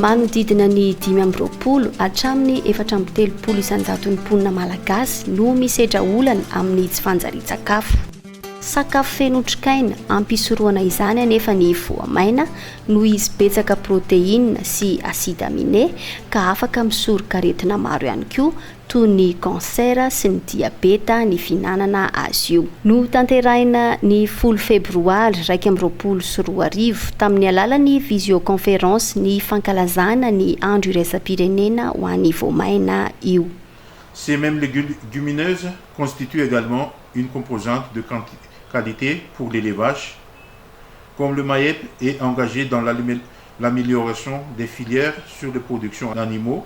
Manodidina ny dimy amby roapolo hatramin'ny efatra amby telopolo isan-jaton'ny mponina malagasy no misedra olana amin'ny tsy fanjarian-tsakafo. Sakafo feno otrikaina, ampisorohana izany anefa ny voamaina noho izy betsaka protéines sy acide aminé ka afaka misoroka aretina maro ihany koa toy ny kansera sy ny diabeta ny fihinanana azy io. Notanterahina ny folo Febroary iraika amby roapolo sy roa arivo tamin'ny alalan'ny visioconférence ny fankalazana ny Andro iraisam-pirenena ho an'ny voamaina io. Ces mêmes légumineuses constituent également une composante de qualité pour les les vaches, comme le MAEP est engagé dans l'amélioration des filières sur les productions en animaux,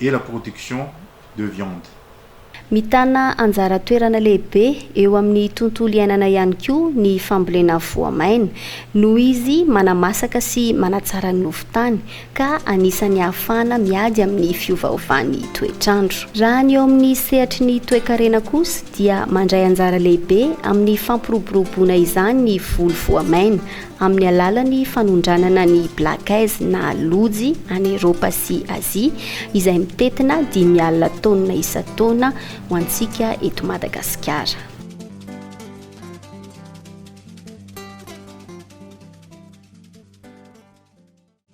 et la production de viande. Mitana anjara toerana lehibe eo amin'ny tontolo iainana ihany koa ny fambolena voamaina, noho izy manamasaka sy manatsara ny nofon-tany, ka anisan'ny ahafahana miady amin'ny fiovaovan'ny toetr'andro. Raha ny eo amin'ny sehatry ny toekarena kosa dia mandray anjara lehibe amin'ny fampiroboroboana izany ny voly voamaina, amin'ny alalan'ny fanondranana ny Black Eyes na Lojy any Eropa sy Azia izay mitentina dimy alina taonina isan-taona ho antsika eto Madagasikara.